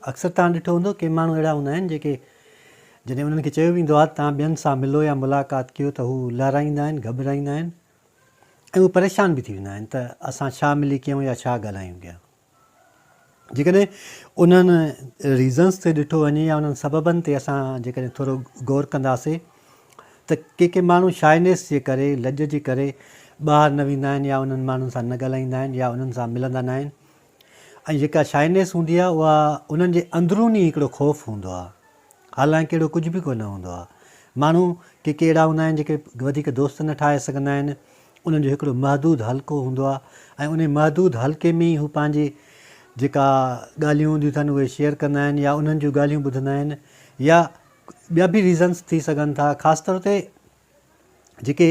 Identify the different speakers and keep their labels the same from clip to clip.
Speaker 1: اڪثر توهان ڏٺو هوندو ڪي ماڻهو اهڙا هوندا آهن جيڪي جڏهن انهن کي چيو ويندو آهي ته توهان ٻين سان ملو يا ملاقات ڪيو ته هو لارائيندا آهن، گهٻرائيندا آهن ۽ هو پريشان به ٿي ويندا آهن ته اسان ڇا ملي ڪيون يا ڇا ڳالهايون ڪيا. جيڪڏهن انهن ريزنس تي ڏٺو وڃي يا انهن سببن تي اسان جيڪڏهن ٿورو غور ڪنداسين ته ڪي ڪي ماڻهو شائنيس جي ڪري، لڄ جي ڪري ٻاهر نه ويندا آهن يا انهن ماڻهن سان نه ڳالهائيندا آهن يا انهن سان ملندا ناهن، ۽ جيڪا شائنيس هوندي آهي اها انهن جي اندرون ئي هڪڙو خوف هوندو آهي حالانڪ اهڙو ڪجهه به ڪونه هوندو آهي ماڻهو ڪي ڪي اهڙا هوندا آهن جيڪي وڌيڪ دوست نه ٺاهي سگهندا آهن انهن جو هڪڙو محدود حلقو هوندو آهي ۽ انهي محدود حلقي ۾ ئي هو پنهنجي جيڪا ڳالهيون هونديون اٿن اهي شيئر ڪندا آهن يا انهن جون ڳالهيون ٻڌندا آهن يا ٻيا به ريزنس ٿي سگهن ٿا خاص طور تي جيڪي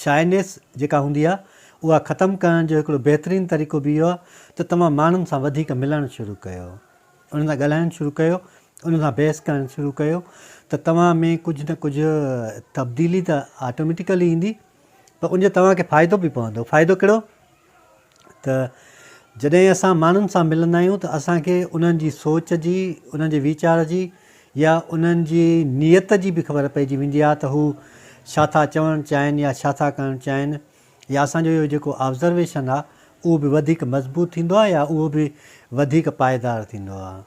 Speaker 1: شائنيس جيڪا هوندي آهي اها ختم ڪرڻ جو هڪڙو بهترين طريقو به اهو آهي ته توهان ماڻهن سان وڌيڪ ملڻ شروع ڪيو انهن سان ڳالهائڻ شروع ڪيو انهن سان بحث ڪرڻ شروع ڪيو ته توهان ۾ ڪجهه نه ڪجهه تبديلي ته آٽوميٽيڪلي ايندي پر ان جو توهان کي فائدو به پوندو فائدو ڪهڙو ته جڏهن اسان ماڻهن سان ملندا آهيون ته اسان کي انهن جي سوچ جي، انهن جي ويچار جي يا انهن جي نيت جي به خبر پئجي ويندي آهي ته هو ڇا ٿا چوڻ چاهين يا ڇا ٿا ڪرڻ چاهين يا اسان جو اهو جيڪو آبزرويشن آهي اهو به وڌيڪ مضبوط ٿيندو آهي يا اهو به وڌيڪ پائيدار ٿيندو آهي.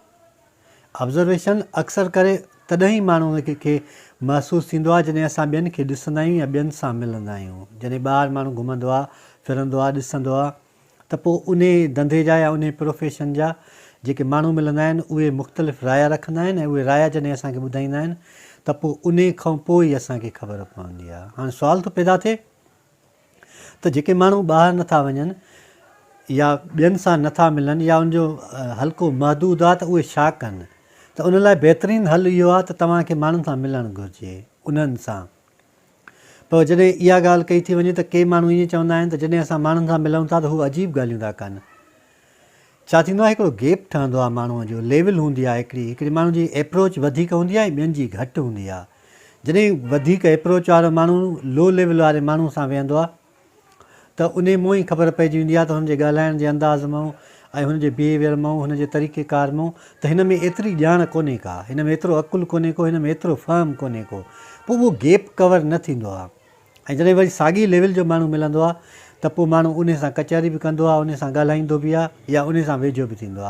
Speaker 1: Observation، اڪثر ڪري تڏهن ئي ماڻهو کي محسوس ٿيندو آهي جڏهن اسان ٻين کي ڏسندا آهيون يا ٻين سان ملندا آهيون. جڏهن ٻاهر ماڻهو گهمندو آهي، ڦرندو آهي، ڏسندو آهي ته پوء انهي ڌنڌي جا يا انهي پروفيشن جا جيڪي ماڻهو ملندا آهن اهي مختلف رايا رکندا آهن ۽ اهي رايا جڏهن اسان کي ٻڌائيندا آهن ته پوء انهي کانپوء ئي اسان کي خبر پوندي آهي. هاڻ سوال ٿو پيدا ٿئي. ته جيڪي ماڻهو ٻاهر نه ٿا وڃن يا ٻين سان نه ٿا ملن يا ان جو حلقو محدود آ ته اهي ڇا ڪن ته ان لاء بهترين حل اهو آ ته توهان کي ماڻهن سان ملڻ گهرجي انهن سان پر جڏهن اها ڳالهه ڪئي ٿي وڃي ته ڪي ماڻهو ائين چوندا آهن ته جڏهن اسان ماڻهن سان ملون ٿا ته هو عجيب ڳالهيون ٿا ڪن ڇا ٿيندو آهي هڪڙو گيپ ٺهندو آهي ماڻهو جو ليول هوندي آهي هڪڙي هڪڙي ماڻهو جي ايپروچ وڌيڪ هوندي آهي ٻين جي گهٽ هوندي آهي جڏهن وڌيڪ ايپروچ وارو ماڻهو لو ليول واري ماڻهو سان ويهندو آهي ته انهي مون ئي خبر پئجي ويندي آهي ته هن جي ڳالهائڻ جي انداز مون ۽ هن جي بيهيويئر مون هن جي طريقي ڪار مون ته هن ۾ ايتري ڄاڻ ڪونهي ڪا هن ۾ ايترو عقل ڪونهي ڪو هن ۾ ايترو فهم ڪونهي ڪو پوء اهو گيپ ڪور نه ٿيندو آهي ۽ جڏهن وري ساڳئي ليول جو ماڻهو ملندو آهي ته پوء ماڻهو انهي سان ڪچهري به ڪندو آهي انهي سان ڳالهائيندو به آهي يا انهي سان ويجهو به ٿيندو آهي